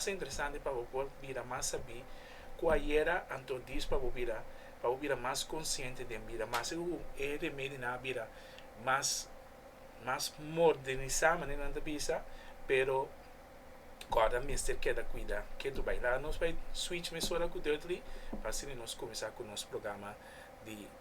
Ta interesante pa bo por bira mas sabí ku ayera anto dis pa bo bira pa bo bira mas konsiente den bida. Mester ku e remedinan a bira mas mas modernisá manera nan ta bisa, pero kòrda mester keda kuidá. Ke tur bai? Laga nos bai switch mesora ku Dudley pa asina nos kuminsá ku nos programa di.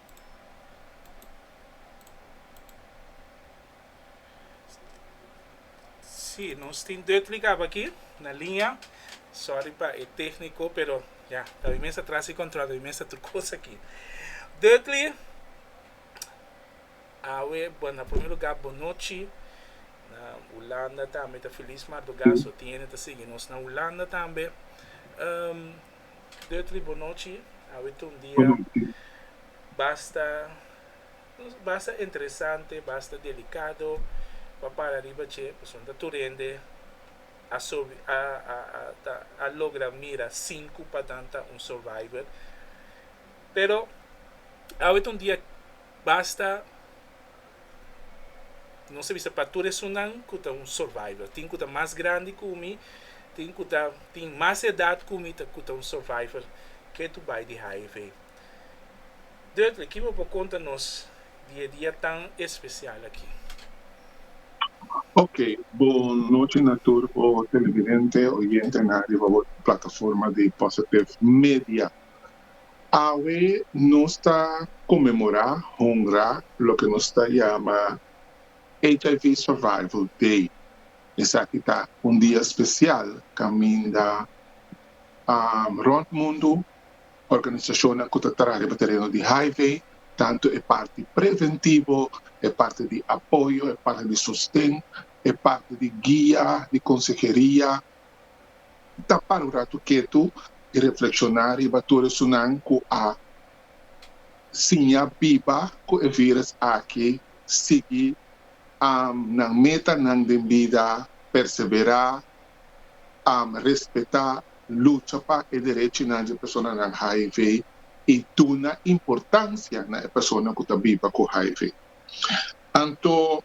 Sí, nos tin Duttley caba aquí, na línea. Sorry pa e técnico, pero ya, tabi mi esta tras e control, tabi mi esta tur cosa aquí. Duttley, awe, bueno, na primer lugar, bon nochi. Na Hulanda tambe ta feliz Mardogaso tiene ta sigui nos na Hulanda tambe. Um, Deut libo nochi, awit un dia, basta basta interesante, basta delikado pa para riba dje, pasobra ta tur hende a sobi a a a ta a logra mira sin ku padan ta un survivor. Pero awit un dia basta Nos ta bisa pa tur esunnan ku ta un survivor. Tin ku ta mas grandi ku mi, tin ku ta tin mas edat ku mi ta ku ta un survivor. Ke tur bai di hiv. Dudley, kico bo por konta nos di e dia tan espesial aki? Oke, bon nochi na tur bo televidente, oyentenan riba bo plataforma di Positive Media. Awe nos ta konmemorá, honrá, loke nos ta yama HIV Survival Day. Esaki ta un dia spesial kaminda rònt mundu organisashonnan ku ta traha riba tereno di hiv, tantu e parti preventivo, e parti di apoyo, e parti di sosten, e parti di guia, di konseheria, ta para un ratu ketu i reflekshoná riba tur esunnan ku a siña biba ku e vírus aki, sigui nan metanan den bida, perseverá, respetá, lucha pa e derechinan di e personanan hiv i duna importansia na e persona ku ta biba ku hiv. Anto.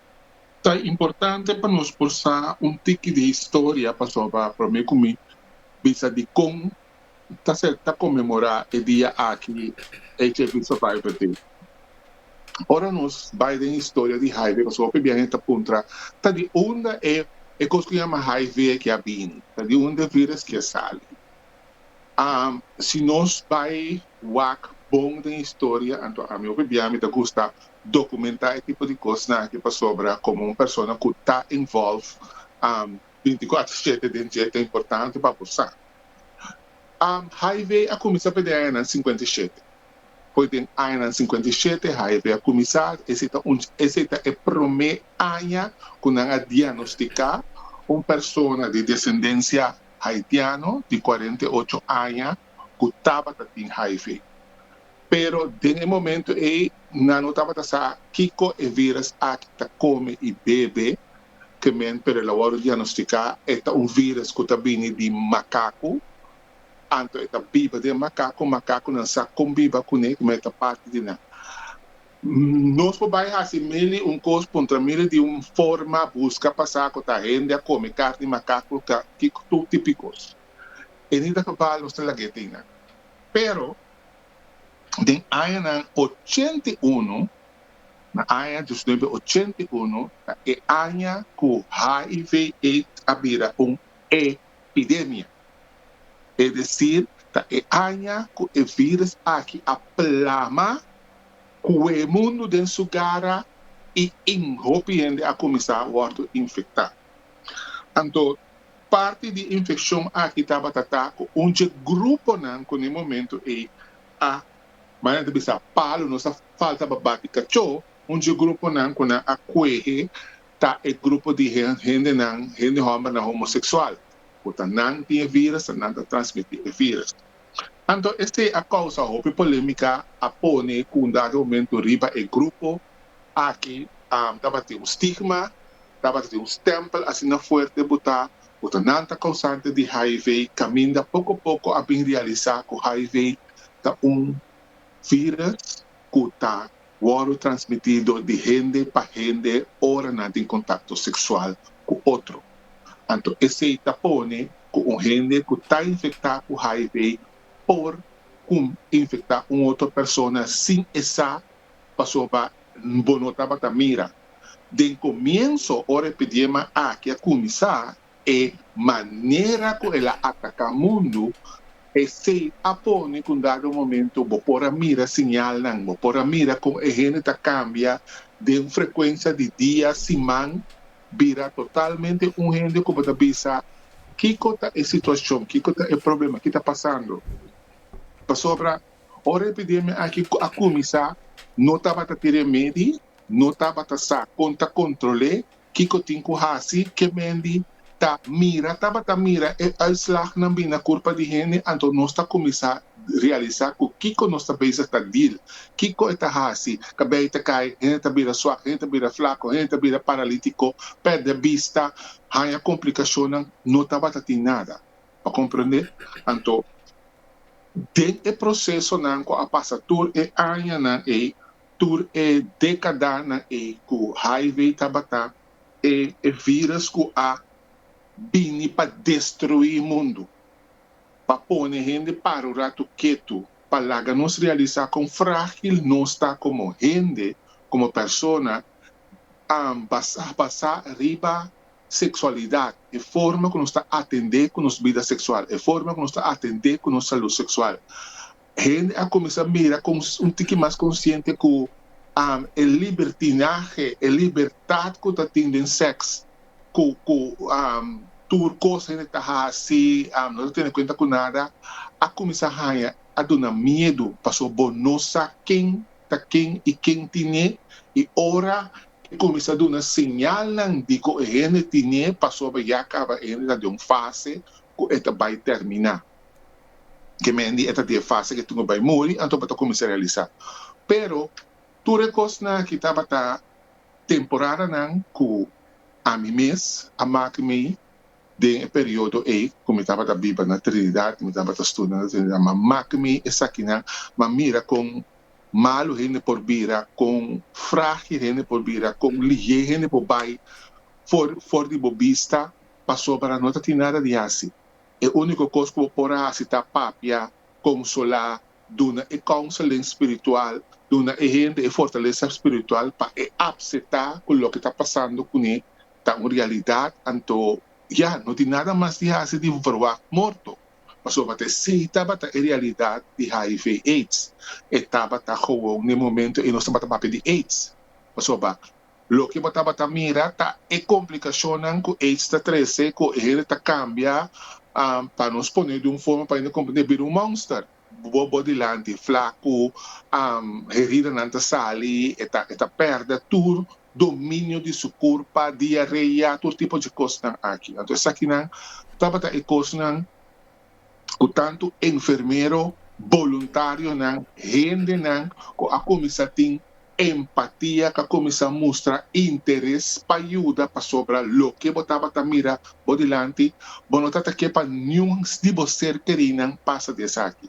Ta importante pa nos por sa un tiki di historia pasobra promé ku mi bisa di kon ta ser ta konmemorá e dia aki HIV Survivor Day. Ora nos bai den historia di hiv pasobra hopi biaha hende ta puntra ta di unda e kos ku yama hiv aki a bini? Ta di unda e vírus ki a sali? A Si nos bai wak bon den historia, anto ami hopi bia mi ta gusta documentá e tipo di cosnan aki pasobra como un persona cu ta involve binticuater shete den dje ta importante pa bo sa. Hiv a cuminsa pa e den añanan cincuenta i shete. Poi den añanan cincuenta i shete hiv a cuminsa, esey ta un esey ta e prome aña cu nan a diagnosticá un persona di descendencia haitiano di cuarenta y ocho aña cu tabata tin hiv. Pero den e momento ey nan no tabata sa kico e virus aki ta come y bebe, que men pero el a worde diagnostica e ta un virus cu ta bini di macacu, anto e ta biba den macacu, macacunan sa con biba cune, como e ta parti di nan. Nos por bai hasi mili un kos kontra mili di un forma buska pasá ku ta hende a kome karni makak lo ka ki tur tip di kos. E ni ta probá los ta lag'é t'ei nan. Pero den añanan ochenta i unu, na aña diecinuebe ochenta i unu, ta e aña ku HIV, aids a bira un pidemia, e decir ta e aña cu e virus aki a plama cue mundo den su gara y in hopi hende a cuminsa wordo infecta. Anto parti di infeccion aki tabata ta cu un dje gruponan cu n'e momento ey a, manera ta bisa, palo nos a faltaba bati cacho, un dje gruponan cu nan a cuehe ta e grupo di hendenan, hende hòmbernan homosexual, ku ta nan tin e vírus, ta nan ta transmití e vírus. Anto esei a kousa hopi polémika, a pone ku un dado momentu riba e grupo aki tabata tin un stigma, tabata tin un stèmpel asina fuerte botá ku ta nan ta kousante di hiv, kaminda poko poko a bin realisá ku hiv ta un vírus. ku ta wòrdu transmitido di hende pa hende ora nan tin kontakto seksual ku otro. Anto esei ta pone ku un hende ku ta infektá ku hiv por kun infektá un otro persona sin e sa pasobra bo no tabata mira. Den komienso ora e pidiema aki a kuminsá E manera ku el a ataká mundu, esei a pone ku un dado momento bo por a mira siñalnan, bo por a mira kon e hende ta kambia den un frekuensia di dia, siman, bira totalmente un hende ku bo ta bisa, Kiko ta e situashon? Kiko ta e problema? Ke ta pasando? Pasobra ora e epidemia aki a kuminsá no tabata tin remedi, no tabata sa kon ta kontrol'é. Kiko tin ku hasi ke Mandy ta mira tabata mira e uitslagnan bin na kurpa di hende anto nos ta kuminsá realisá ku kiko nos ta bezig ta dil, kiko e ta hasi, kabei ta kai, hende ta bira swak, hende ta bira flaku, hende ta bira paralítiko, pèrdè bista, haña komplikashonnan, no tabata tin nada. Bo a komprendé? Anto den e prosesonan ku a pasa tur e añanan ei Tur e decadanan ey cu hiv tabata e e virus cu a bini pa destrui e mundo, pa pone hende para un rato ketu, pa laga nos realisa con fragil nos ta como hende, como persona, am basa basa riba sexualidad, e forma cu nos ta atende cu nos bida sexual, e forma cu nos ta atende cu nos salud sexual. Hende a kuminsá mira kon un tiki mas konsiente ku e libertinahe, e libertat ku ta tin den sèks, ku ku tur kos hende ta hasi, no ta tene kuenta ku nada, a kuminsá haña, a duna miedu, pasobra bo no sa ken ta ken i ken tine, i ora e kuminsá duna señalnan di kon e hende tine, pasobra ya kaba e hende ta den un fase ku e ta bai tèrminá. ke Mandy e ta den fase ke tunga bai muri, anto bo ta kuminsá realisá. Pero tur e kosnan aki tabata temporadanan ku ami mes a mak mi den e periodo ei ku mi tabata biba na Trinidad, mi tabata studia na Trinidad, mi a mak mi esakinan, mi a mira kon malu hende por bira, kon fragil hende por bira, kon lihé hende por bai for for di bo bista pasobra no ta tin nada di hasi. E úniko kos ku bo por a hasi ta papia, konsolá, duna e counseling spiritual, duna e hende e fortalesa spiritual pa e apseptá ku loke ta pasando kuné ta un realidat. Anto ya, no tin nada mas di hasi di verwagt morto, pasobra ta esei tabata e realidat di hiv, aids. E tabata gewoon n'e momento ei nos tabata papia di aids, pasobra. Loke bo tabata mira ta e komplikashonnan ku aids ta trese ku e hende ta kambia, pa nos pone di un forma pa hende komprende, bira un monster bo bo dilanti, flaku, heridanan ta sali, e ta e ta pèrdè tur dominio di su kurpa, diarea, tur tipo di kosnan aki. Anto esakinan tabata e kosnan ku tantu enfermero, boluntarionan, hendenan ku a kuminsá tin empatia, ku a kuminsá mustra interes pa yuda, pasobra loke bo tabata mira bo dilanti, bo no tabata ke pa niun di bo ser kerinan pasa di esaki.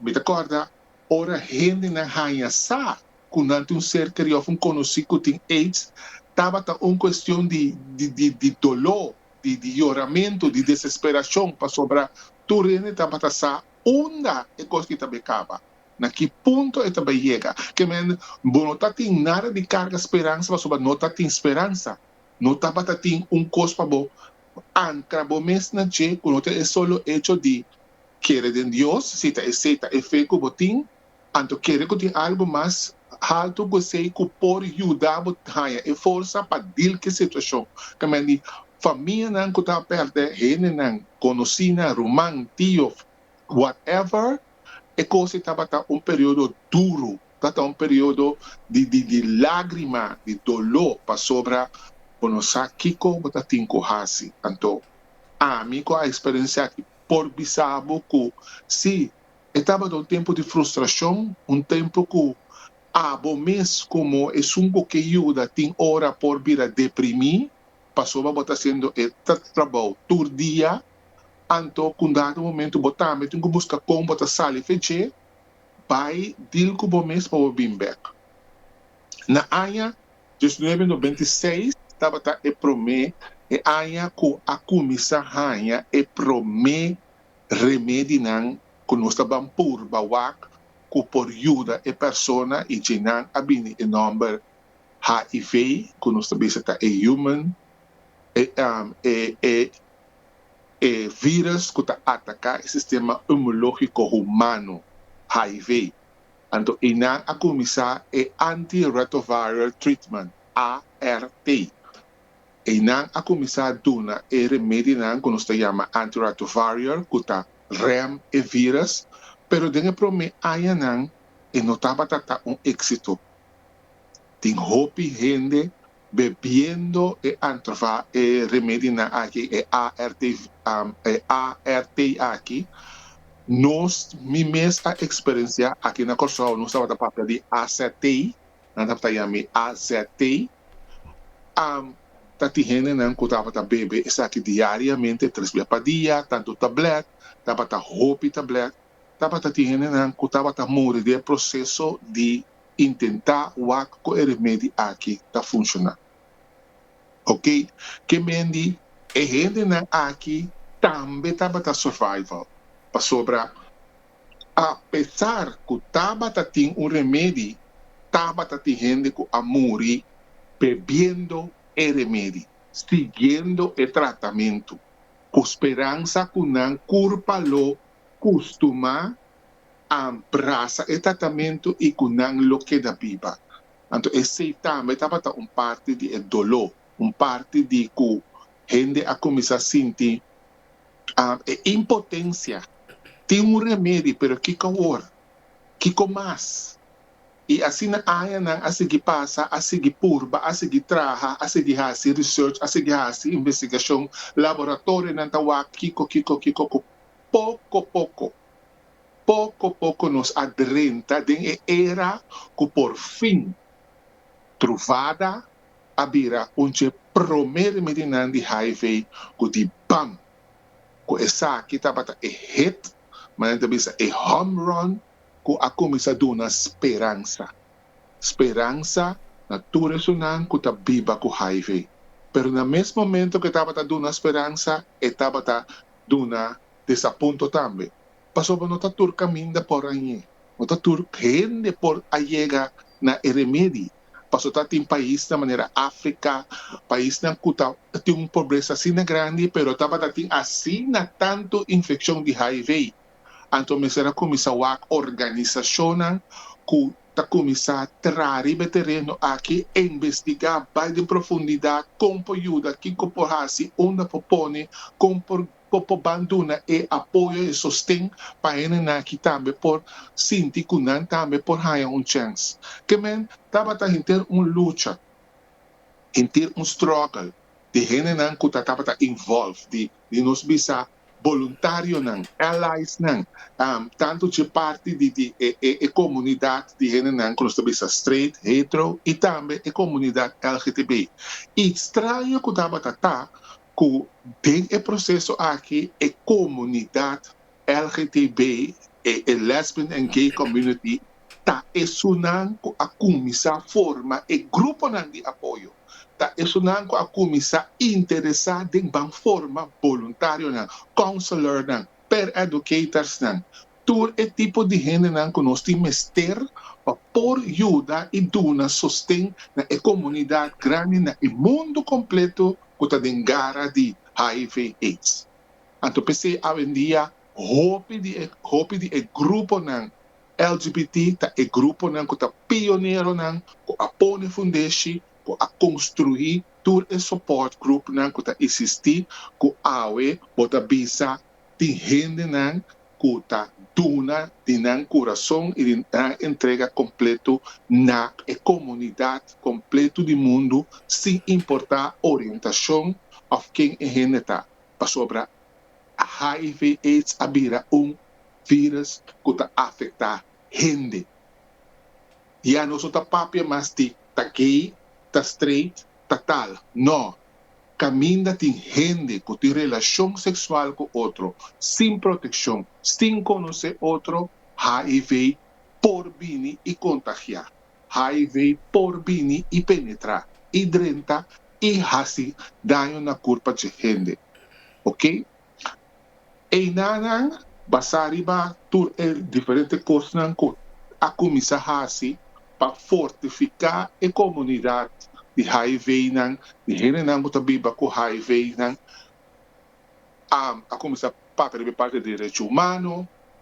Mi ta kòrda ora hendenan haña sa ku nan tin un ser keri òf un konosí ku tin aids, tabata un kuestion di doló di di yoramentu, di desesperashon, pasobra tur hende tabata sa unda e kos ki ta bai kaba, na ki punto e ta bai yega. Ke men, bo no ta tin nada di karga speransa, pasobra no ta tin speransa. No tabata tin un kos pa bo ankra bo mes na dje ku no ta e solo echo di kere den Dios, si ta esei ta e fe ku bo tin. Anto kere ku tin algu mas haltu ku esei ku por yuda bo haña e forsa pa dil ku e situashon. Kamen di famianan ku ta pèrdè hendenan, konosínan, ruman, tio, whatever, e kos ei tabata un periodo duru, tabata un periodo di lágrima, di doló, pasobra bo no sa kiko bo ta tin ku hasi. Anto ami ku a eksperensiá aki por bisa bo ku sí, E tabata un tempu di frustrashon, un tempu ku abo mes komo esun ku ke yuda tin ora por bira deprimí pasobra bo ta hasiendo e trabou tur dia. Anto ku un dado momentu bo tambe tin ku buska kon bo ta sali fe dje. Bai dil ku bo mes pa bo bin bèk. Na aña dos nuebe no benti i seis tabata e promé e aña ku a kuminsá haña e promé. remedinan cu nos ta ban purba wak cu por yuda e persona y djenan a bini e nomber hiv cu nos ta bisa ta e human e e virus cu ta ataca e sistema immunologico humano hiv anto eynan a cuminsa e anti retroviral treatment art Eynan a cuminsa duna e remedinan cu nos ta yama antiretroviral cu ta rem e virus, pero den e prome añanan e no tabata ta un exito. Tin hopi hende bebiendo e antrva e remedinan aki, e ART, e ART aki. Nos, mi mes a experencia, aki na Corsou nos tabata papia di AZT, nan tabata yami AZT, am ta tin hendenan ku tabata bebe esaki diariamente tres bia pa dia, tantu tablèt, tabata hopi tablèt, tabata tin hendenan ku tabata muri di e proseso di intentá wak ku e remedi aki ta funshoná. Ok, ke mendi e hendenan aki tambe tabata survival, pasobra. A pesar cu tabata tin un remedi, tabata tin hende cu a muri bebiendo e remedi, siguiendo e tratamento, cu speransa cu nan curpa lo custuma a brasa e tratamento y cu nan lo keda biba. Anto esey tambe tabata un parti di e dolo, un parti di cu hende a cuminsa sinti E impotencia tin un remedi pero kico awor? Kico mas? Y asina añanan a sigui pasa, a sigui purba, a sigui traha, a sigui haci research, a sigui haci investigacion, laboratorionan ta wak kico kico kico cu poco poco, poco poco nos a drenta den e era cu por fin truvada a bira un dje promé di midinan di HIV ku di bam ku esaki tabata e hit, mas nan ta bisa e home run ku a kuminsá duna speransa. Speransa na tur esunnan ku ta biba ku HIV. Pero na mes momento ku e tabata duna speransa, e tabata duna desapunto tambe. pasobra no ta tur kaminda por añe, no ta tur hende por a yega na e remedi, paso ta tin paisnan manera Africa, paisnan cu ta tin un pobresa asina grandi pero tabata tin asina tanto infeccion di hiv, anto mester a cuminsa wak organisacionnan cu ta cuminsa traha riba e tereno aki e investiga bai den profundidad con por yuda, kico por haci, unda por pone, con por. Bo por ban duna e apoyo, e sosten pa hendenan aki tambe por sinti ku nan tambe por haña un chèns. Ke men tabata henter un lucha, henter un struggle di hendenan ku ta tabata involve, di nos bisa boluntarionan, alliesnan, tantu dje parti di e komunidat di hendenan ku nos ta bisa straight, hetero i tambe e komunidat LGTBI. I straño ku tabata ta cu den e proceso aki e comunidad LGTB e e Lesbian and Gay Community ta esunnan cu a cuminsa forma e gruponan di apoyo, ta esunnan cu a cuminsa interesa den ban forma voluntarionan, counselornan, per-educatorsnan, tur e tipo di hendenan ku nos tin mester pa por yuda i duna sosten na e komunidat grandi na e mundu kompletu ku ta den gara di hiv, aids. Anto p'esei awendia hopi di e hopi di e gruponan LGBT ta e gruponan ku ta pioneronan ku a pone fundeshi ku a konstruí tur e sopòrt grupnan ku ta eksistí ku awe bo ta bisa tin hendenan ku ta duna di nan kurason i di nan entrega kompletu na e komunidat kompletu di mundu sin importá orientashon òf ken e hende ta, pasobra hiv, aids a bira un vírùs ku ta afektá hende. Ya nos no ta papia mas di ta gay, ta straight, ta tal, nò. Caminda tin hende cu tin relacion sexual cu otro sin proteccion, sin conoce otro, hiv por bini y contagia. Hiv por bini y penetra y drenta y haci daño na curpa dje hende. Ok. Einanan basá riba tur e diferente kosnan ku a kuminsá hasi pa fortifiká e komunidat di HIVnan, di hendenan ku ta biba ku HIVnan, a a kuminsá papia riba e parti di derechi humano,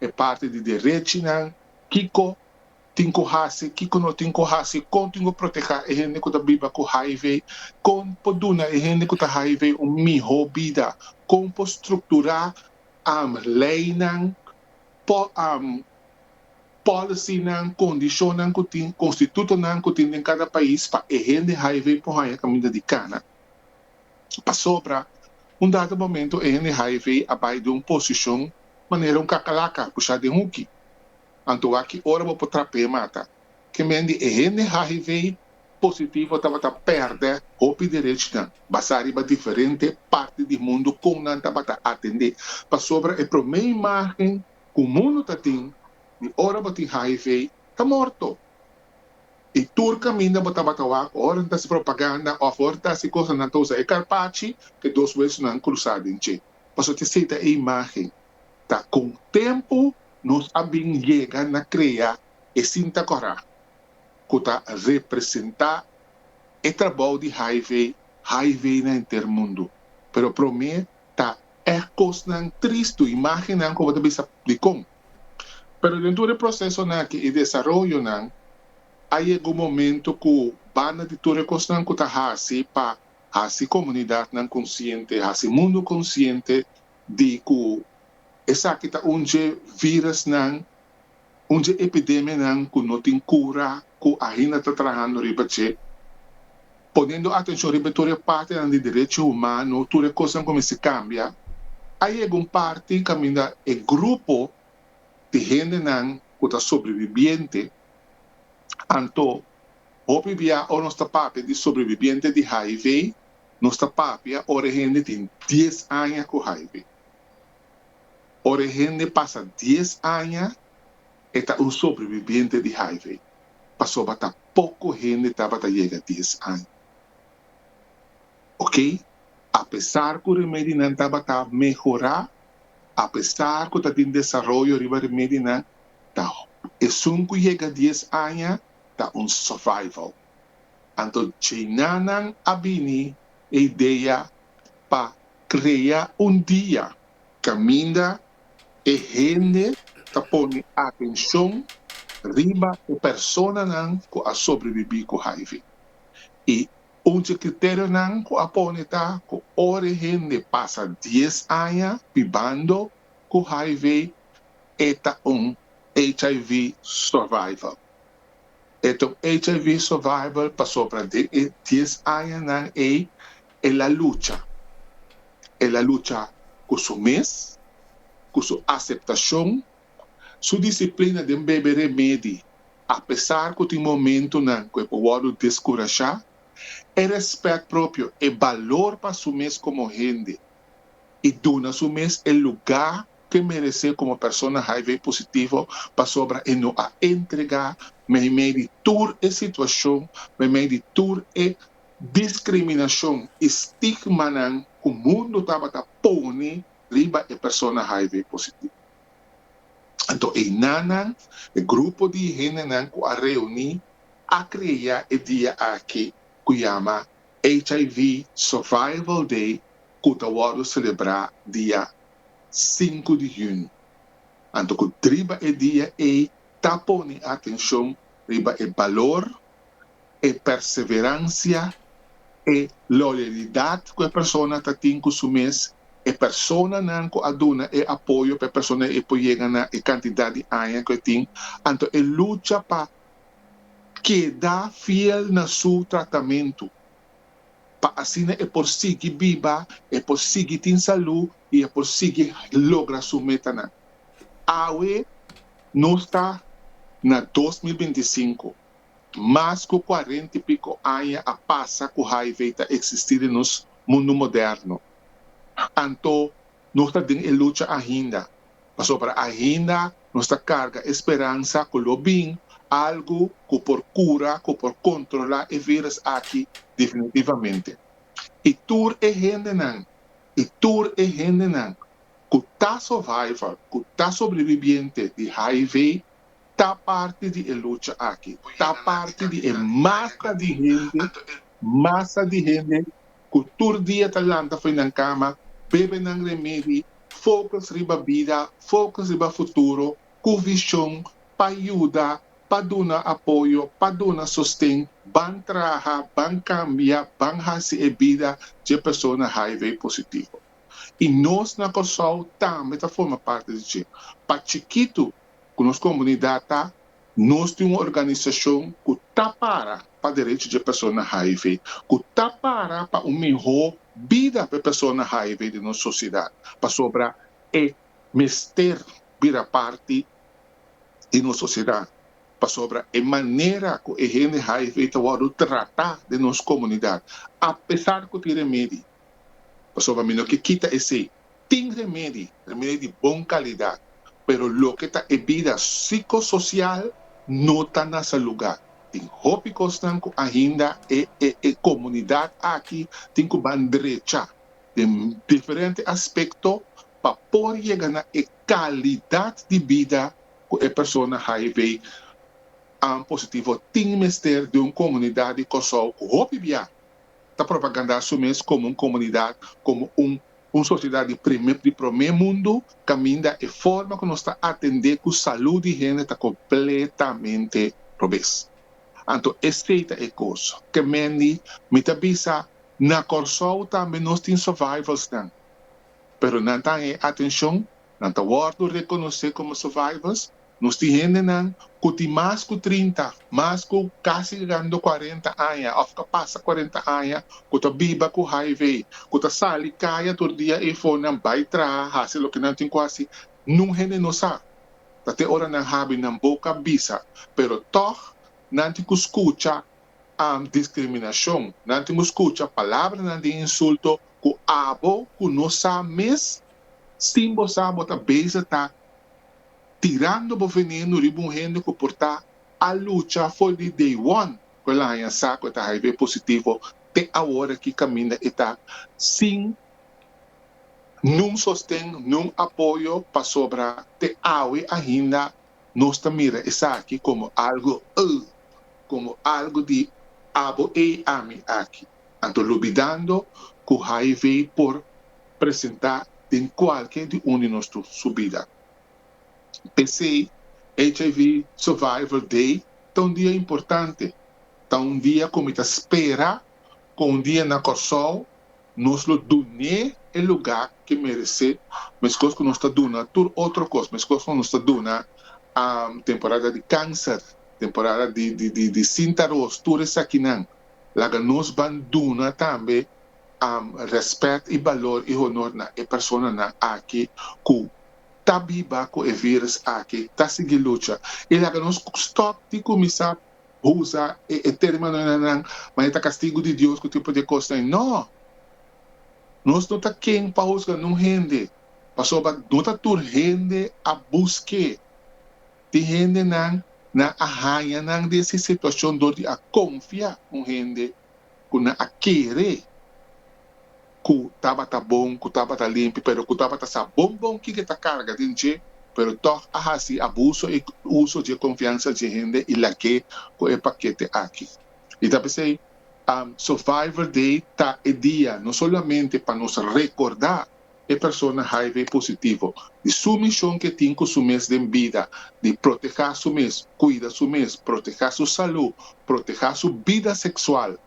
e parti di derechinan, kiko. tin ku hasi, kiko no tin ku hasi, kon tin ku protehá e hende ku ta biba ku hiv, kon por duna e hende ku ta hiv un mihó bida, kon por strukturá am leinan, po am pòlisinan, kondishonnan ku tin, konstitutonan ku tin den kada pais pa e hende hiv por haña kaminda di kana. Pasobra un dado momento e hende hiv a bai den un posishon manera un kakalaka pushá den huki. Anto a ki ora bo por trap'é mata. Ki men di e hende hiv positivo tabata pèrdè hopi derechnan basá riba diferente parti di mundu kon nan tabata atendé. Pasobra e promé imágen ku mundu ta tin di ora bo tin hiv ta morto. I tur kaminda bo tabata wak ora nan ta hasi propaganda òf ora ta hasi kos nan ta usa e karpachi, e dos wesnan krusá den dje. Pasobra ta seta e imágen. ta con tempo nos a bin yega na crea e cinta corá cu ta representa e trabou di Hi-Vee, Hi-Vee na henter mundo. Pero prome ta e cosnan tristu, imagennan cu bo ta bisa dicon. Pero den tur e procesonan aki, e desaroyonan, a yega un momento cu banda di tur e cosnan cu ta haci pa haci comunidadnan consciente, haci mundo consciente di ku esaki ta un dje virusnan, un dje epidemianan ku no tin kura ku ainda ta trahando riba dje. Ponendo atenshon riba tur e partinan di derecho humano, tur e kosnan ku mester kambia, a yega un parti kaminda e grupo di hendenan ku ta sobrevibiente, anto hopi bia ora nos ta papia di sobrevibiente di hiv, Nos ta papia ora e hende tin dies aña ku hiv. Ora e hende pasa dies aña e ta un sobrevibiente di hiv, pasobra ta poko hende tabata yega dies aña. Oke, apesar ku remedinan tabata mehorá, apesar ku ta tin desaroyo riba remedinan, ta esun ku yega dies aña ta un survival. Anto Chinanan a bini e idea pa krea un dia kaminda e hende ta pone atenshon riba e personanan ku a sobrebibí ku hiv. I un di e kriterionan ku a pone ta ku ora e hende pasa dies aña bibando ku hiv e ta un hiv survival. E ta un HIV survivor pasobra den e dies añanan ei el a lucha. El a lucha ku su mes, ku su aseptashon, su disiplina den bebe remedi apesar ku tin momentunan ku e por wòrdu deskurashá, e rèspèt propio, e balor pa su mes komo hende. i duna su mes e lugá ku e meresé komo persona HIV-positivo pasobra e no a entregá meimei di tur e situashon, meimei di tur e diskriminashon i stigmanan ku mundu tabata pone riba e persona HIV-positivo. Anto einanan, e grupo di hendenan ku a reuní a krea e dia aki ku yama HIV Survival Day ku ta wòrdu selebrá dia sinku di hunio. Anto ku driba e dia ei ta pone atenshon riba e balor, e perseveransia, e loyalidat ku e persona ta tin ku su mes, e personanan ku a duna e apoyo pa e persona ei por yega na e kantidat di aña ku e tin, anto e lucha pa keda fiel na su tratamentu, pa asina e por sigui biba, e por sigui tin salú i e por sigui logra su metanan. Awe nos ta na dos mil binti i sinku, mas ku kuarenta i piko aña a pasa ku hiv ta eksistí den nos mundu moderno. Anto nos ta den e lucha ainda. Pasobra ainda nos ta karga e speransa ku lo bin, algu ku por kura, ku por kontrolá e vírùs aki definitivamente. I tur e hendenan, i tur e hendenan ku ta survival, ku ta sobrevibiente di hiv, ta parti di e lucha aki, ta parti di e masa di hende, masa di hende ku tur dia ta lanta fo'i nan kama, bebe nan remedi, fokus riba bida, fokus riba futuro, ku vishon pa yuda, pa duna apoyo, pa duna sosten, ban traha, ban kambia, ban hasi e bida dje persona hiv positivo. I nos na Kòrsou tambe ta forma parti di dje. Pa chikitu ku nos komunidat ta, nos tin un organisashon ku ta para pa derecho dje persona hiv, ku ta para pa un mihó bida pa e persona hiv den nos sosidat, pasobra e mester bira parti di nos sosidat, pasobra e manera ku e hende hiv ta wòrdu tratá den nos komunidat, apesar ku tin remedi. Pasobra mi no ke kita esei. Tin remedi, remedi di bon kalidat, pero loke ta e bida sikososial no ta na sa lugá. Tin hopi kosnan ku ainda e e komunidat aki tin ku ban drechá den diferente aspekto pa por yega na e kalidat di bida ku e persona hiv an positivo tin mester den un komunidat di Kòrsou ku hopi biaha ta propagandá su mes komo un komunidat, komo un un sosiedat di prime di promé mundu, kaminda e forma ku nos ta atendé ku salú di hende ta kompletamente robes. Anto esei ta e kos. Kemendi mi ta bisa na Kòrsou tambe nos tin survivalsnan, pero nan ta haña e atenshon, nan ta wòrdu rekonosé komo survivals, Nos tin hendenan ku tin mas ku trinta, mas ku kasi gigando kuarenta aña òf ka pasa kuarenta aña ku ta biba ku hiv, ku ta sali kaya tur dia ei fonan bai traha, hasi loke nan tin ku hasi. Nun hende no sa. Ta te ora nan habi nan boka bisa, pero tòg nan tin ku skucha diskriminashon, nan tin ku skucha palabranan di insulto ku abo ku no sa mes, sin bo sa bo ta beza ta tirando bo veneno riba un hende ku por ta a lucha for di day one ku el a haña sa ku e ta hiv positivo te awor aki kaminda e ta sin niun sosten, niun apoyo pasobra te awe ainda nos ta mira esaki komo algu, ugh, komo algu di abo ei ami aki. Anto lubidando cu hiv por presenta den cualke di un di nos tur su bida. P'esey hiv Survival Day ta un dia importante. Ta un dia cu mi ta spera cu un dia na Corsou nos lo dun'e e luga que merece mescos cu nos ta duna tur otro cos, mescos cu nos ta duna temporada di cancer, temporada di sinta ros, tur esakinan. Laga nos ban duna tambe rèspèt i balor i honor na e personanan aki ku ta biba ku e vírùs aki, ta sigui lucha. I laga nos stòp di kuminsá usa e terminonan nan, ma e ta kastigu di Dios ku tin por di e kosnan. Nò! Nos no ta ken pa husga nunghende, pasobra no ta tur hende a busk'é. Tin hendenan nan a haña nan di esei situashon dor di a konfia un hende ku nan a kere ku tabata bon, ku tabata limpi, pero ku tabata sa bon bon kin ke ta karga den dje, pero tòg a hasi abuso i uso dje konfiansa dje hende i lag'é ku e pakete aki. I ta p'esei Survivor Day ta e dia no solamente pa nos rekordá. e persona hiv positivo di su mishon ke tin ku su mes den bida di protehá su mes, kuida su mes, protehá su salú, protehá su bida seksual,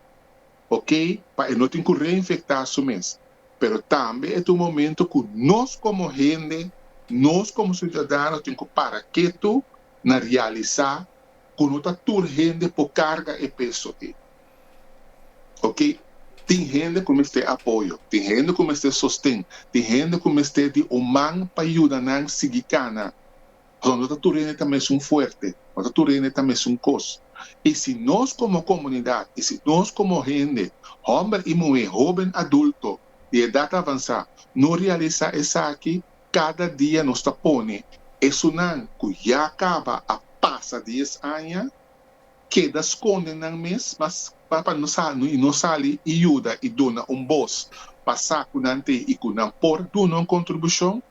ok, pa e no tin ku reinfektá su mes. Pero tambe e ta un momentu ku nos komo hende, nos komo siudadano tin ku para ketu na realisá ku no ta tur hende por karga e peso ei. Oke, tin hende ku mester apoyo, tin hende ku mester sosten, tin hende ku mester di un man pa yuda nan sigui kana. Pasobra no ta tur hende ta mesun fuerte, no ta tur hende ta mesun kos. I si nos komo komunidat, i si nos komo hende, hòmber i muhé, hóben, adulto, di edat avansá, no realisá esaki, Kada dia nos ta pone esunnan ku ya kaba a pasa dies aña keda skonde nan mes pa pa pa no sa i no sali i yuda i duna un bos pa sa ku nan tin i ku nan por duna un kontribushon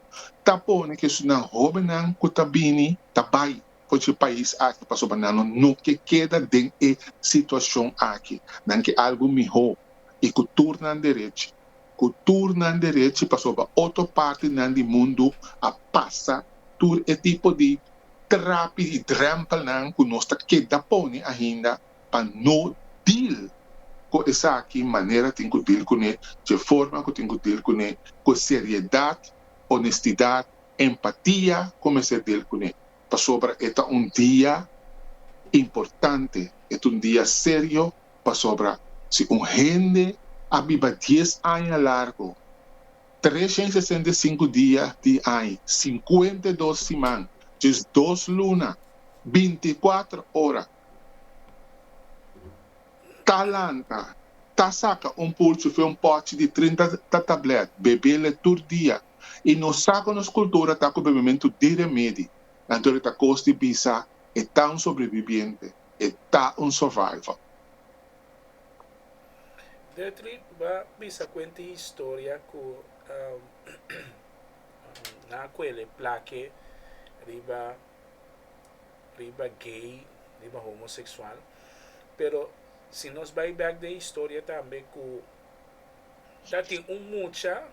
ta pone ku esunnan hóbennan ku ta bini ta bai for di e pais aki pasobra nan no no ke keda den e situashon aki nan ke algu mihó i ku tur nan derech ku tur nan derechi pasobra otro parti nan di mundu a pasa tur e tipo di trapi i drempelnan ku nos ta keda pone ainda pa no deal ku esaki manera tin ku deal kune, dje forma ku tin ku deal kune, ku e seriedat, onestidat, empatia ku mester deal kune, pasobra e ta un dia importante, e ta un dia serio Pasobra si un hende a biba dies aña largu, treshent sesenta i sinku dia di aña, sinkuenta i dos siman, djes dos luna, binti i kuater ora, ta lanta, ta saka un pulchi fe un pòchi di trinta tatablet, bebel e tur dia, i nos sa ku nos kultura ta ku bebementu di remedi, anto e ta kos di bisa e ta un sobrebibiente. e ta un survival. Gertrud ba bisa kuenti historia ku nan a kuele plake riba riba gay, riba homoseksual. Pero si nos bai bèk den historia tambe ku. Ta tin un mucha,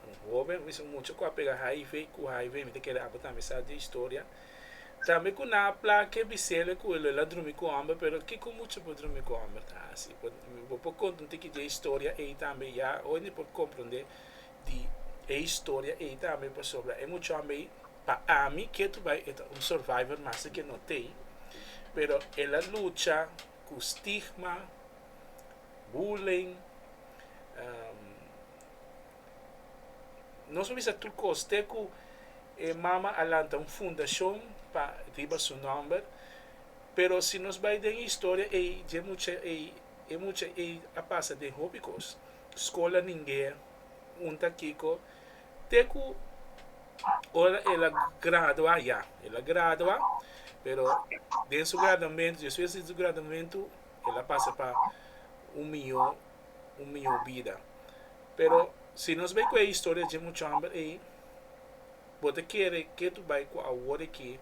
un hoben, mester un mucha ku a pega HIV, ku HIV mi ta kere aba tambe sa di e historia, tambe ku nan a plake bisele ku e lo e la drumi ku hòmber, pero kiko mucha por drumi ku hòmber ta hasi? Bo por konta un tiki di e historia ei tambe, ya hoy mi por komprende di e historia ei tambe, pasobra e mucha hòmber ei, pa ami ketu bai e ta un survivor master ke no tei, pero e la lucha ku stigma, bullying. Nos a bisa tur kos te ku e mama a lanta un fundashon pa riba su nòmber. Pero si nos bai den e historia ei, dje mucha ei, e mucha ei a pasa den hopi kos. Skol a ningé, hunta kiko, te ku ora el a gradua ya. El a gradua, pero den su graduamentu, despues di su graduamentu. el a pasa pa un mihó un mihó bida pero si nos bai ku e historia dje muchu hamber ei bo ta kere ke tu bai ku awor aki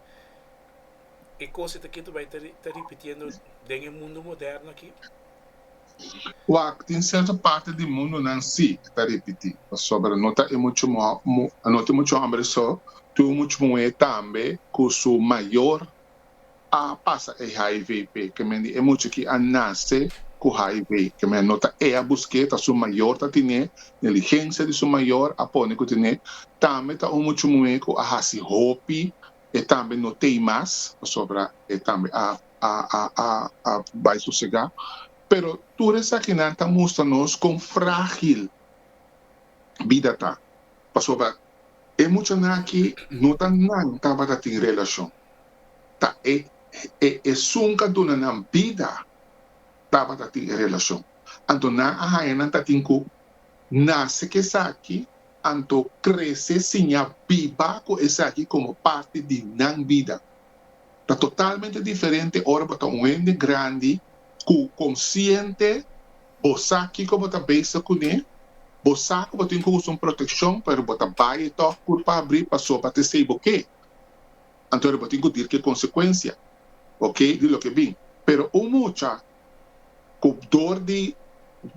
e kos ta ke tu bai ta ripitiendo den e mundo moderno aki? Wak tin serto parti di mundonan si e ta ripiti pasobra no ta e muchu no ta e muchu hamber so tu muchu muhé tambe ku su mayor a pasa e hiv p'e mende e mucha ki a nace cu hiv ke men no ta e a busque ta su mayor ta tine neligencia di su mayor a pone cu tine tambe ta un mucha muhe cu a haci hopi e tambe no tey mas pasobra e tambe a a a a a bay sosega pero tur esakinan ta mustra nos con fragil bida ta. Pasobra e muchanan aki no ta nan tabata tin relacion, ta e e esun cu a duna nan bida tabata tin e relacion. Anto nan a haña nan tatin cu nace cu esaki, anto crece sin a biba cu esaki como parti di nan bida. Ta totalmente diferente ora bo ta un hende grandi cu consciente Bo sa kiko bo ta bisa kuné? Bo sa ku bo tin ku usa un protekshon, pero bo ta bai e tòg pur pa abrí pasobra bo ta esei bo ke. Anto ahora bo tin ku dir ku e konsekuensia, oke, di loke bin. Pero un mucha ku dor di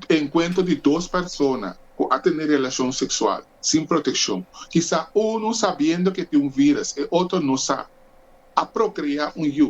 enkuentro di dos persona ku a tene relashon seksual sin protekshon, kisa unu sabiendo ku e tin un vírus, e otro no sa, a prokrea un yu.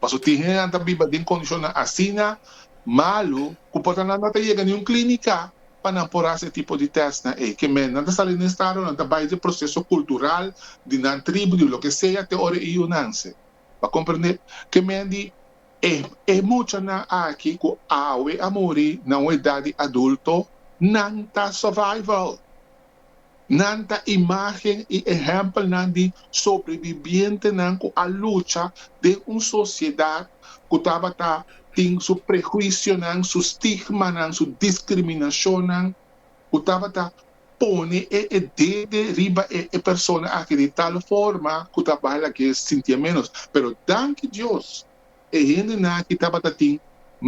Paso tin hende nan ta biba den condicionnan asina malu cu por ta nan no ta yega niun clinica pa nan por haci e tipo di testnan ey. Ke men nan ta sali den estado, nan ta bay dje proceso cultural di nan tribu, di loke sea, te ora e yunanse ba comprende ke men di e e muchanan aki cu awe a muri na un edad di adulto, nan ta survival. Nan ta imágen i ehèmpelnan di sobrebibientenan ku a lucha den un sosiedat ku tabata tin su prehuisionan, su stigmanan, su diskriminashonnan, ku tabata pone e e dede riba e e persona aki di tal forma ku ta bai la ke sintié ménos. Pero danki Dios, e hendenan aki tabata tin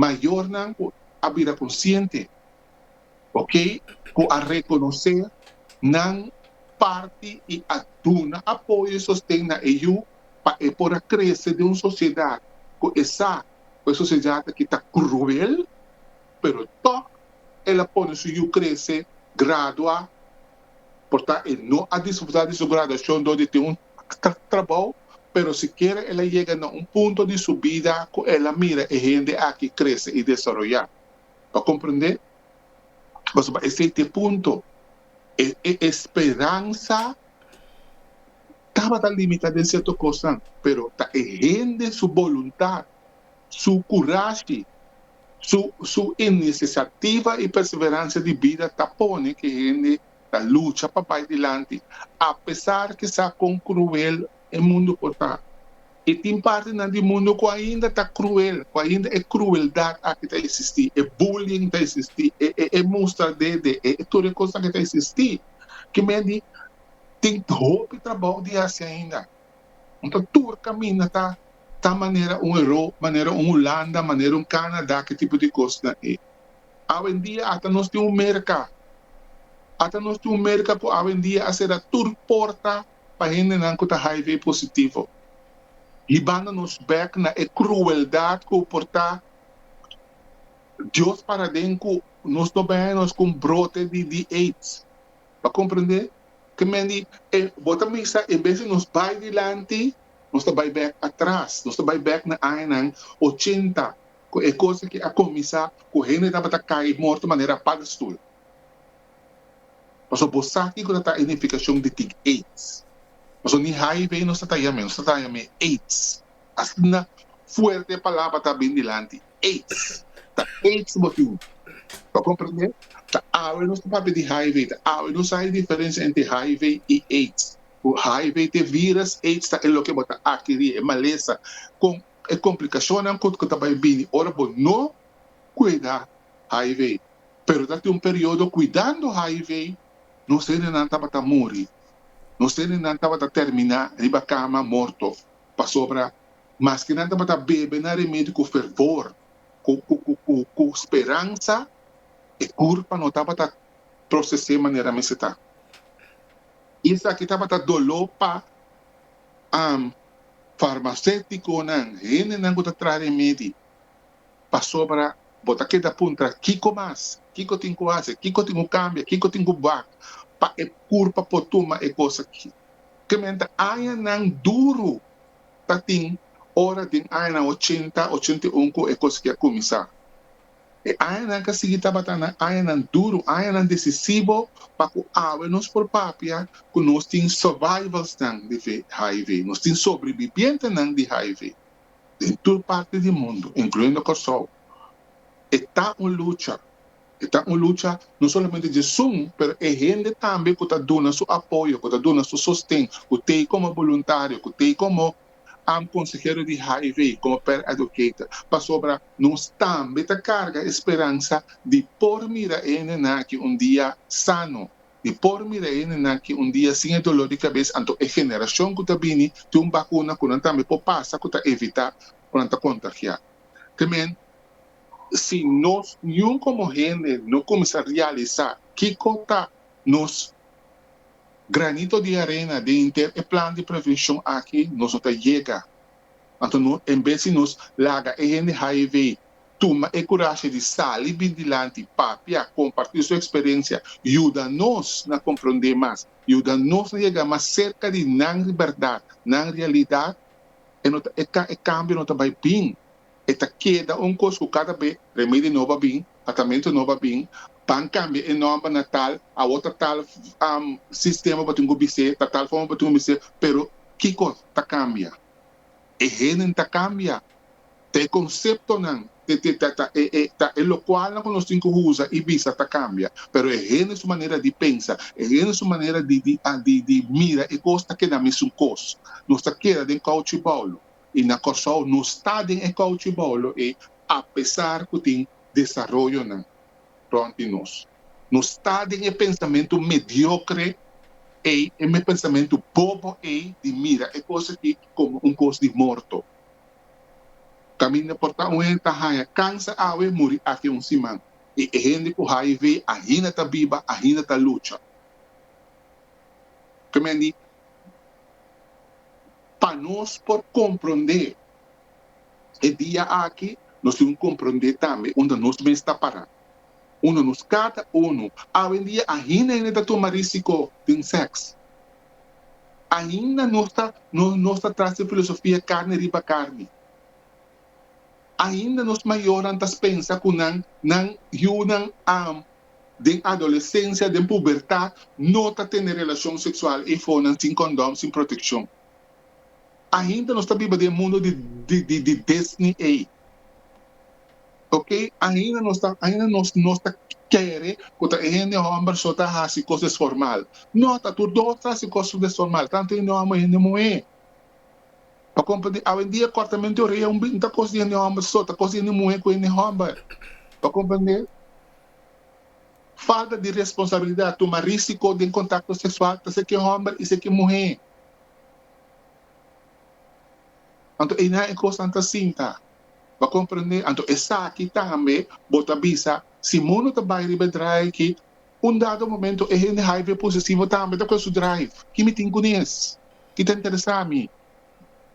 mayornan ku a bira konsiente. ok, cu a reconoce nan parti y a duna apoyo y sosten na e yu pa e por a crece den un sociedad cu e sa cu e sociedad aki ta cruel, pero tok el a pone su yu crece gradua, por tan e no a disfruta di su graduacion dor di tin un trabao, pero sikiera el a yega na un punto di su bida cu el a mira e hende aki crece y desaroya. pa komprendé pasobra esei ta e punto e e esperansa tabata limitá den sierto kosnan pero ta e hende su boluntat, su kurashi, su su inisesiativa i perseveransia di bida ta pone ku e hende ta lucha pa bai dilanti apesar kisá kon kruel e mundu por ta. I tin partinan di mundu ku ainda ta kruel, ku ainda e krueldat aki ta esistí, e bullying ta esistí, e mustra dede, e tur e kos aki ta esistí. Ki men di tin hopi trabou di hasi ainda. Nta tur kaminda ta ta manera un Europa, manera un Hulanda, manera un Kanada, ki tipo di kosnan ei. Awendia ata nos tin un merka, ata nos tin un merka ku awendia a sera tur porta. pa hendenan ku ta hiv positivo, hibando nos bèk na e krueldat ku porta Dios paraden ku nos no bèn e nos ku un brote di aids. Bo a komprendé? Ke men di, e bo ta bisa en bes di nos bai dilanti, nos ta bai bèk atras, nos ta bai bèk na añanan ochenta ku e kos aki a kuminsá ku hende tabata kai morto manera padestul. Paso bo sa kico ta ta e nificacion di tic aids. Paso ni hiv nos ta taña me, nos ta taña me aids. Asina fuerte e palabra ta bin dilanti, aids. Ta aids bo tin. Bo comprende? Ta awe nos ta papia di hiv, ta awe nos sa e diferencia entre hiv y aids. Cu hiv ta e virus, aids ta e loke bo ta akiri, e malesa con e complicacionnan cu ta bay bini ora bo no cuida hiv. Pero ta tin un periodo cuidando hiv, nos herinan tabata muri, nos herinan tabata termina riba cama morto, pasobra maske nan tabata bebe nan remedio cu fervor, cu speransa, e curpa no tabata procese manera mester ta. Y esaki tabata dolo pa farmaceticonan, hendenan cu ta traha remedi, pasobra bo ta keda puntra, Kiko mas? Kiko tin ku hasi? Kiko tin ku kambia? Kiko tin ku bak pa e kurpa por tuma e kos aki? Kementa añanan duru ta tin ora den añanan ochenta, ochenta i un ku e kos aki a kuminsá. E añanan k'a sigui tabata nan añanan duru, añanan desisivo pa ku awe nos por papia ku nos tin survivalsnan di hiv, nos tin sobrebibientenan di hiv. den tur parti di mundu, incluyendo Corsou, e ta un lucha, e ta un lucha no solamente di esun, pero e hende tambe cu ta duna su apoyo, cu ta duna su sosten, cu ta ei como boluntario, cu ta ei como am consehero di hiv, como peer educator, pasobra nos tambe ta carga e speransa di por mira e hendenan aki un dia sano, Di por mira hende nan ki un dia sin e doló di kabes anto e generashon ku ta bini tin un bakuna ku nan tambe por pasa ku ta evitá ku nan ta kontagiá. Tremen. Si nos niun komo hende no kuminsá realisá kiko ta nos granito di arena den henter e plan di prevenshon aki nos no ta yega Anto no, en bes di nos laga e hende hae vei, tuma e kurashe di sali bin dilanti, papia, kompartí su eksperensia, yuda nos na komprondé mas, yuda nos na yega mas serka di nan bèrdat, nan realidat. E no ta e kambio no ta bai bin. E ta keda un kos ku kada be remedi nobo a bin, tratamentu nobo a bin, ban kambia e nòmber na tal, awor ta tal sistema bo tin ku bis'é, ta tal forma bo tin ku bis'é, pero kiko ta kambia? E henden ta kambia, ta e konseptonan, ta e lokualnan ku nos tin ku usa i bisa ta kambia, pero e hende su manera di pensa, e hende su manera di mira e kos ta keda misun kos. Nos ta keda den kouchiboulo. y na Kòrsou nos ta den e kouchi boulo ei apesar ku tin desaroyonan rònt di nos. Nos ta den e pensamentu mediokre ei, e pensamentu bobo ei di mira e kos aki komo un kos di morto. Kaminda por ta un hende ta haña kansa awe, muri afia un siman y e hende ku hiv ainda ta biba, ainda ta lucha. Ke mi a di? pa nos por komprondé e dia aki, nos tin ku komprondé tambe unda nos mes ta pará, unda nos kada unu awendia ainda hende ta tuma risiko den sèks. Ainda nos ta nos ta tras e filosofia karni riba karni. Ainda nos mayornan ta spensa ku nan nan yunan a den adolesensia, den pubertat, no ta tene relashon seksual eifonan sin kondom, sin protekshon. Ainda nos ta biba den e mundo di di di Disney ei. Oke, ainda nos ta ainda nos nos ta kere ku ta e hende hòmber so ta hasi kos desformal. No, ta tur dos ta hasi kos desformal, tantu hende hòmber, hende muhé. Pa compra di awendia cortamento di oreya un bit no ta cos di hende homber so, ta cos di hende muhe cu hende homber. Pa comprende falta di responsabilidad, tuma risico den contacto sexual ta seki homber y seki muhe. Anto e nan e cosnan ta sinta. Pa comprende, anto esaki tambe bo ta bisa si mundo ta bay riba e draai aki, Un dado momento e hende haive posesivo tambe ta kue su drive. Ki mi tin kuné es? Ki ta interesá mi?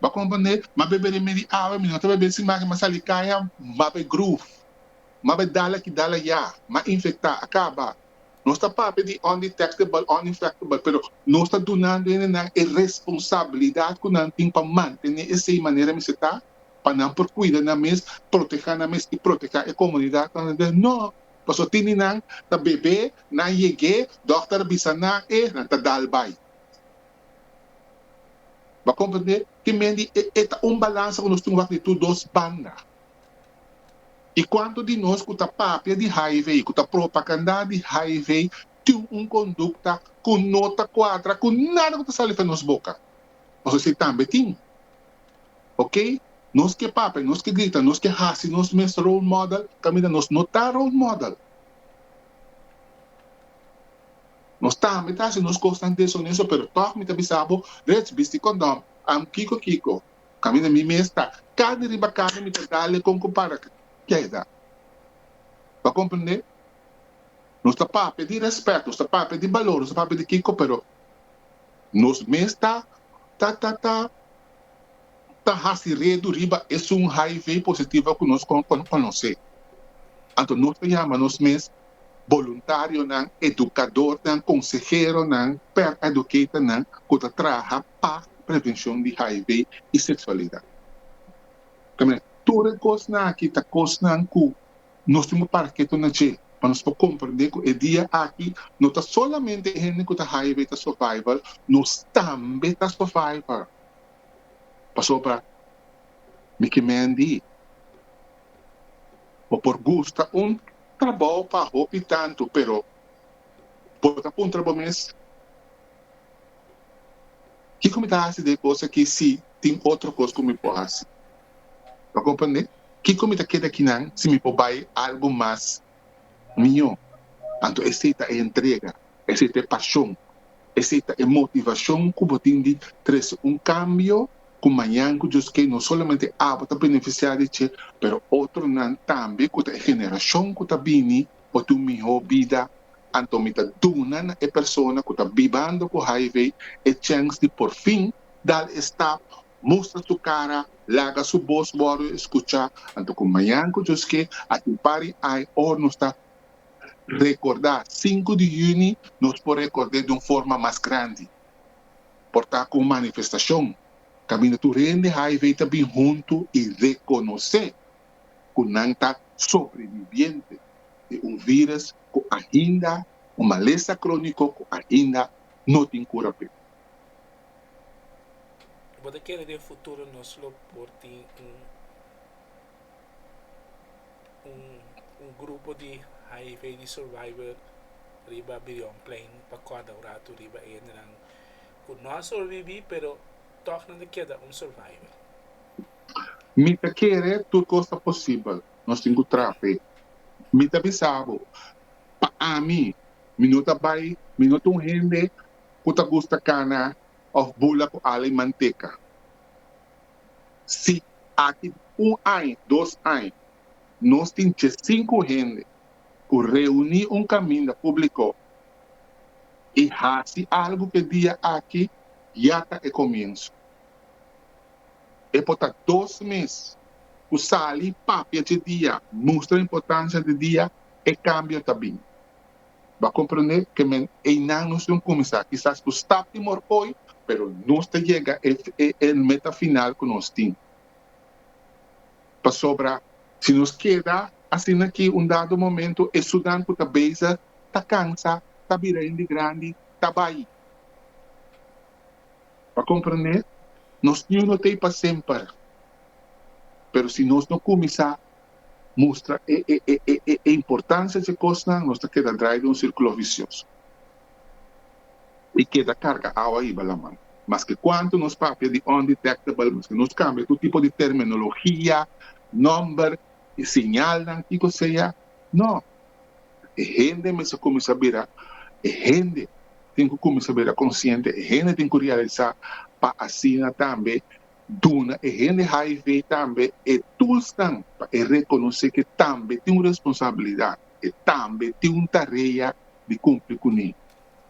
Bo a komprendé? M'a bebé den medi awe, mi no ta bebé sin maki, m'a salí kaña, m'a be groove, m'a be dal aki dal ayá, m'a infektá, a kaba. Nos ta papia di undetectable, uninfectable, pero nos ta dunando hende nan e responsabilidat ku nan tin pa mantené esei manera mester ta, pa nan por kuida nan mes, protehá nan mes i protehá e komunidat nan. Nò! Paso tini nan ta bebe, nan yeg'é, dòkter a bisa nan e nan ta dal bai. Bo a komprendé ke men di e e ta un balansa ku nos tin wak di tur dos banda. I kuantu di nos ku ta papia di hiv, ku ta propagandá di hiv, tin un kondukta ku no ta kuadra ku nada ku ta sali fen nos boka? Paso si tambe tin. ok nos ke papia nos ke grita nos ke hasi nos mes role model kaminda nos no ta role model nos tambe ta hasi nos kosnan deshonesto pero tog mi ta bisa bo Reg bisti kondom am kiko kiko kaminda mi mes ta kade riba kade mi ta dale kon ku para keda ta komprende nos ta papia di respet nos ta papia di balor nos ta papia di kiko pero nos mes ta ta ta ta hasi redu riba esun hiv positivo ku nos konosé. Anto nos ta yama nos mes boluntarionan, edukadornan, konseheronan, per educatornan ku ta traha pa prevenshon di hiv i seksualidat. Tur e kosnan aki ta kosnan ku. Nos tin bo para ketu na dje, pa nos por komprendé ku e dia aki no ta solamente e hende ku ta haya be ta survivor, nos tambe ta survivor. Pasobra mi ke men di bo por gusta un trabou pa hopi tantu, pero bo ta puntra bo mes, Kiko mi ta hasi de e kos aki si tin otro kos ku mi por hasi? Lo comprende? Kico mi ta keda kinan si mi por bay algo mas miho? Anto esey ta e entrega, esey ta e pasion, esey ta e motivacion cu bo tin di trece un cambio cu mañan cu Dios kee no solamente abo ta beneficia di dje, pero otronan tambe cu ta e generacion cu ta bini por tin un miho bida. Anto mi ta duna na e persona cu ta bibando cu hiv e chance di porfin dal e stap mustra su cara, laga su bos wordo escucha, anto cu mañan cu djos ke a tin pari ai or nos ta recorda sinku di juni nos por record'e di un forma mas grandi por ta cu un manifestacion caminda tur hende hiv ta bin huntu y reconoce cu nan ta sobreviviente di un virus cu ainda un malesa cronico cu ainda no tin cura p'e. Bo ta kere den futuro nos lo por tin un un grupo di hiv aids survivor riba bidionplein pa kòrda un ratu riba e hendenan ku no a sobrevivì pero tòg nan ta keda un survivor? Mi ta kere tur kos ta posibel. Nos tin ku traha p'e. Mi ta bisa bo, pa ami, mi no ta bai, mi no ta un hende ku ta gusta kana òf bula ku ala i manteka. Si aki un aña, dos aña nos tin dje sinku hende ku reuní un kaminda públiko i hasi algu ke dia aki, ya ta e komiensu. E por ta dos mes ku sali papia dje dia mustra importansia di dia e kambio ta bini. Bo a komprendé ke men einan nos lo kuminsá kisas ku stap di mor hoy, pero nos ta yega e meta final ku nos tin. Pasobra si nos keda asina akí un dado momento e sudan ku ta bezig ta kansa, ta bira hende grandi, ta bai. Bo a komprendé? Nos yu no t'ei pa semper. Pero si nos no kuminsá mustra e e e e e e importancia dje cosnan, nos ta keda draai den un circulo vicioso y keda carga awa riba laman. Maske cuanto nos papia di undetectable, maske nos cambia tur tipo di terminologia, nomber y señalnan, kico sea, no, e hende mester cuminsa bira e hende, tin cu cuminsa bira consciente, e hende tin cu realisa pa asina tambe, Duna e hende hiv tambe e tulsnan pa e rekonosé ku e tambe tin un responsabilidat, e tambe tin un tarea di kumpli ku niño.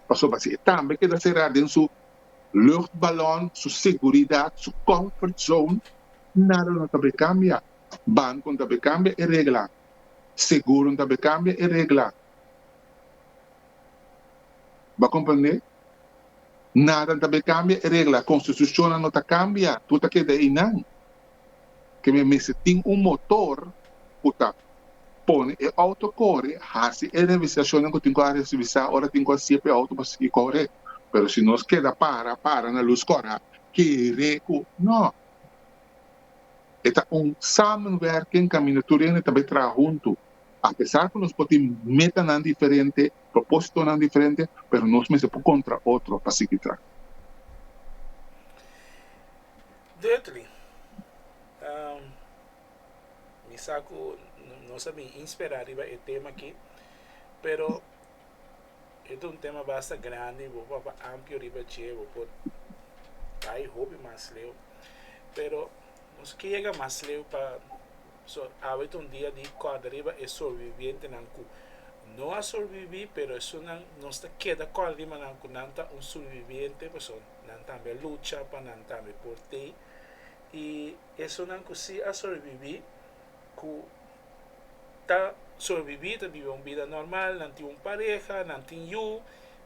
Pasobra si e tambe keda será den su luchtbalon, su seguridat, su comfort zone, nada no ta por kambia. Banko no ta por kambia e regla, seguro no ta por kambia e regla. Bo a komprende? Nadan ta be kambia e regla, konstitushonnan no ta kambia, tur ta keda einan. Ke mi mester tin un motor ku ta pone e outo kore, hasi e revisashonnan ku tin ku a revisá ora tin ku a siye pa e outo por sigui kore. Pero si nos keda para, para na lus kòrha, kere ku nò. E ta un samenwerking kaminda tur hende ta be traha huntu. Apesar cu nos por tin metanan diferente, propósitonan diferente, pero nos mester por contra otro pa sigui traha. Dirkly, mi sa cu nos a bin inspera riba e tema aki, pero e ta un tema basta grandi, bo por papá amplio riba dje, bo por bay hopi mas leu, pero nos ke yega mas leu pa. So, awe ta un dia di kòrda riba e sorbibientenan ku no a sorbibí, pero esunnan nos ta keda kòrda riba nan ku nan ta un surbibiente, pasobra nan tambe a lucha pa nan tambe por te. I esunnan ku si a sorbibí, ku ta sorbibí, ta biba un bida normal, nan tin un pareha, nan tin yu,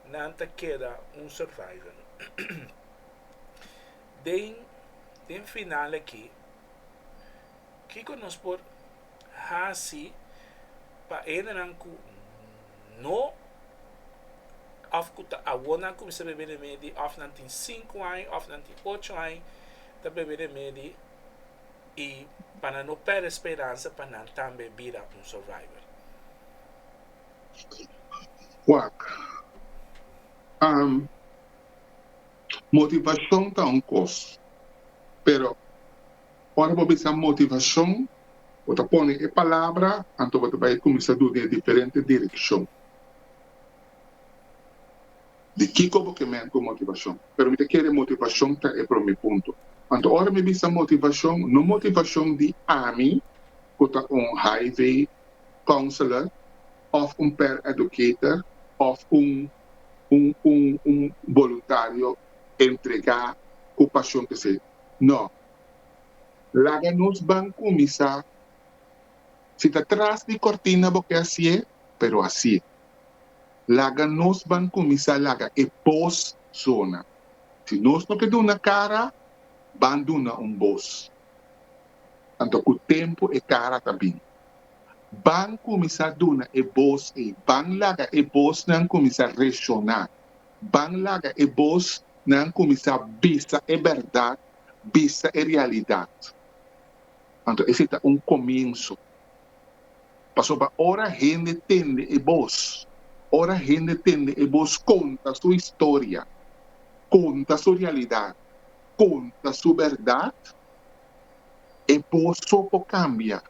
nan ta keda un survivor. Den den final aki. Kiko nos por hasi pa hendenan ku no òf ku ta awona kumsa bebe remedi, òf nan tin sinku aña òf nan tin ocho aña ta bebe remedi i pa nan no pèrdè speransa pa nan tambe bira un survivor? Wak, Motivashon ta un kos pero. Ora bo bisa motivashon, bo ta pone e palabra, anto bo ta bai kuminsá duna e diferente direkshon. Di kiko bo ke menti ku motivashon? Pero mi ta kere motivashon ta e promé punto. Anto ora mi bisa motivashon, no motivashon di ami ku ta un Highway Counselor òf un Peer Educator òf un un un un boluntario entregá ku pashon pesé. No. Laga nos ban kuminsá. Si ta tras di kòrtina bo ke hasié, pero hasié. Laga nos ban kuminsá laga e bos zona. Si nos no ke duna kara, ban duna un bos. Anto ku tempu e kara ta bini. Ban kuminsá duna e bos ei. Ban laga e bosnan kuminsá rekshoná. Ban laga e bosnan kuminsá bisa e bèrdat bisa e realidat. Anto esei ta un komienso. Pasoba ora hende tende e bos, ora hende tende e bos konta su historia, konta su realidat, konta su bèrdat, e bos so por kambia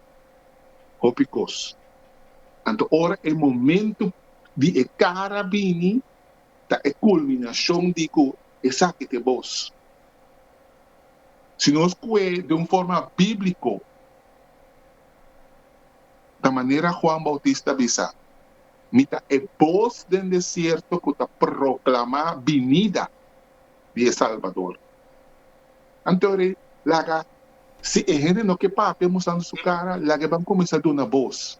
hopi kos. Anto ora e momentu di e kara bini ta e kulminashon di ku Esaki t'e bos. Si nos kue den un forma bíbliko, ta manera Juan Bautista bisa, Mi ta e bos den desierto ku ta proklamá binida di e Salbador. Antori, laga si e hende no ke papia mustrando su kara, laga e ban kuminsá duna bos.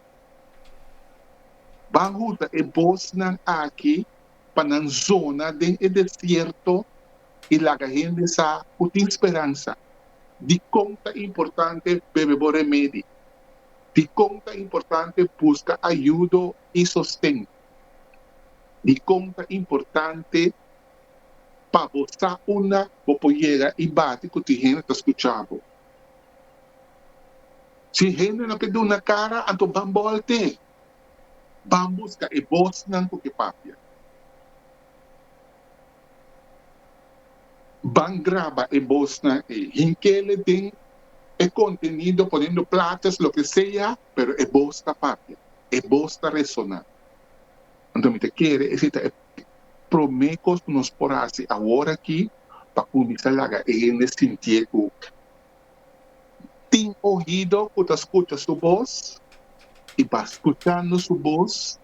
Ban hunta e bosnan aki. pa nan zona den e desierto i laga hende sa ku tin speransa dikon ta importante bebe bo remedi, dikon ta importante buska ayudo i sosten, dikon ta importante pa bo sa unda bo por yega i bati ku tin hende ta skucha bo. Si hende no ke duna kara, anto ban bòlte. Ban busca e bosnan cu e papia. Ban graba e bosnan e hinkele den e contenido ponendo platas loke sea, pero e bos ta papia, e bos ta resona. Anto mi ta kere esey ta e prome cos cu nos por haci awor aki pa cuminsa laga e hende sintie cu. tin ohido ku ta skucha su bos, i pa skuchando su bos,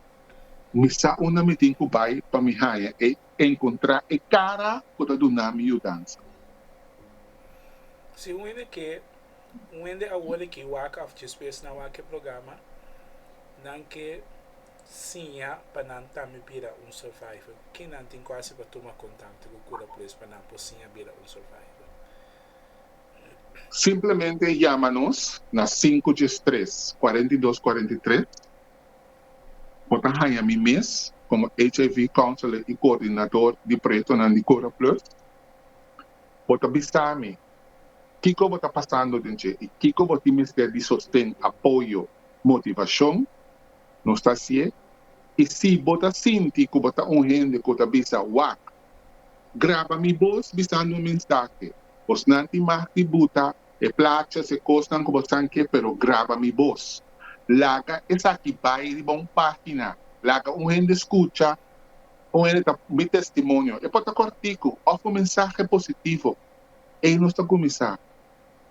mi sa unda mi tin ku bai pa mi haña e enkontrá e kara ku ta duna mi yudansa. Si un hende ke, un hende awor a ke wak òf djispues nan wak e programa, nan ke siña pa nan tambe bira un survivor, ke nan tin ku hasi pa tuma kontakto ku Kura Plus pa nan por siña bira un survivor? Simplemente yama nos na sinku djes tres kuarenta i dos kuarenta i tres. Bo ta haña mi mes komo HIV Counselor i Koordinador di proyektonan di Cura Plus. Bo ta bisa mi kiko bo ta pasando den dje i kiko bo tin mester di sosten, apoyo, motivashon. Nos ta hasié. I si bo ta sinti ku bo ta un hende ku ta bisa wak Graba mi bos bisando un mensahe. Bosnan tin mag di buta e plachas, e cosnan cu bo san ke, pero graba mi bos. Laga esaki bay riba un pagina. Laga un hende scucha, un hende ta mi testimonio. E por ta corticu of un mensahe positivo. Ey nos ta cuminsa.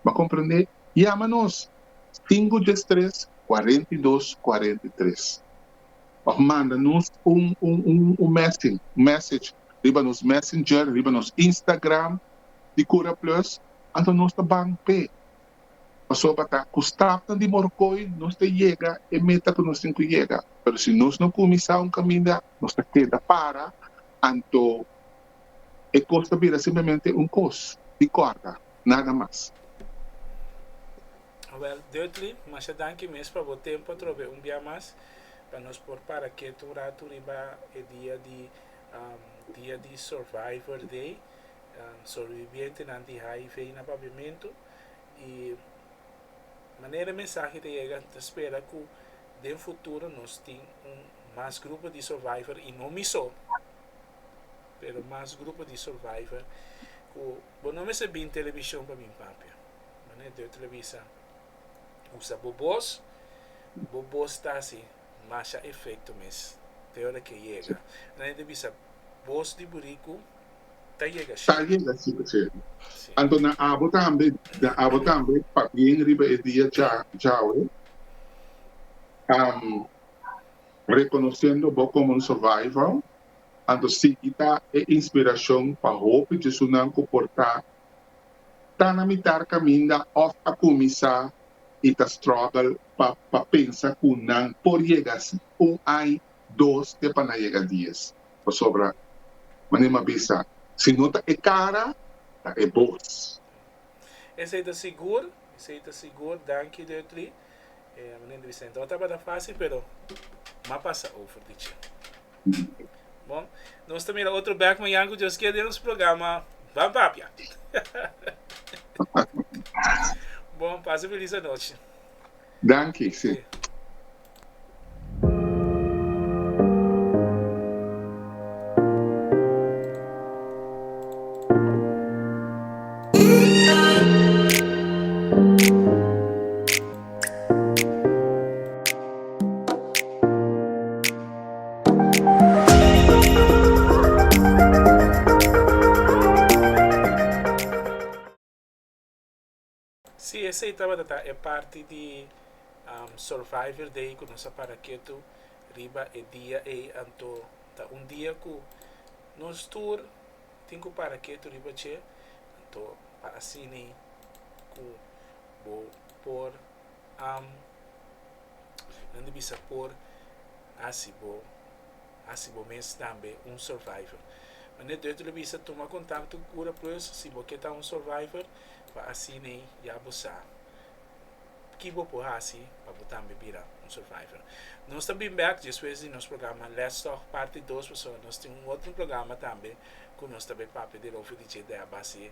M'a comprendé? Yama nos, cinco dies tres, cuarenta y dos, cuarenta y tres. Of manda nos un un messing, un message, riba nos messenger, riba nos Instagram di Cura Plus, anto nos ta ban p'e. Pasoba ta cu stafnan di Morcoy nos ta yega e meta cu nos tin cu yega. Pero si nos no cuminsa un caminda, nos ta keda para, anto. E kos ta bira simplemente un kos di kòrda, nada mas. Wel, Dudley, masha danki mes pa bo tempu atrobe un bia mas, pa nos por para ketu un ratu riba e dia di dia di Survivor Day, Sobrevivientenan di HIV na Paviamentu, i manera e mensahe ta yega mi ta spera ku den futuro nos tin un mas grupo di Survivor i no mi so. pero mas grupo di survivor cu bo no mester bin television pa bin papia manera deo ta bisa usa bo bos bo bos ta haci masha efecto mes te ora ke yega nan e ta bisa bos di buricu ta yega shi ta yega shi ta cero anto na abo tambe na abo tambe pa bien riba e dia djawe am reconociendo bo como un survivor Anto Siki ta e inspirashon pa hopi Jesunan ku por ta ta na mitar kaminda òf a kuminsá i ta strògel pa pa pensa ku nan por yega un ai, dos te pa nan yega dies. Pasobra manera mi a bisa, si no ta e kara, ta e bos. Esei ta sigur, esei ta sigur. Danki Duttley. Manera mi ta bisa, no tabata fásil pero mi a pasa over di dje. Bon, nos ta mira otro bek mañan ku Dios kier den nos programa Ban Papia. bon, pasa feliz anoche. Dankie, sí. Okay. Si esei tabata ta e parti di Survivor Day ku nos a para ketu riba e dia ei, anto ta un dia ku nos tur tin ku para ketu riba dje. Anto pa asina ku. Bo por am Nan ta bisa por hasi bo hasi bo mes tambe un survivor. Manera Deuto lo bisa, tuma kontakto ku kura pues si bo ke ta un survivor pa asina ei ya bo sa ki bo por hasi pa bo tambe bira un survivor. Nos ta bini bek despues di nos programa Let's Talk parti dos pasobra nos tin un otro programa tambe ku nos ta papia derover di dje dea base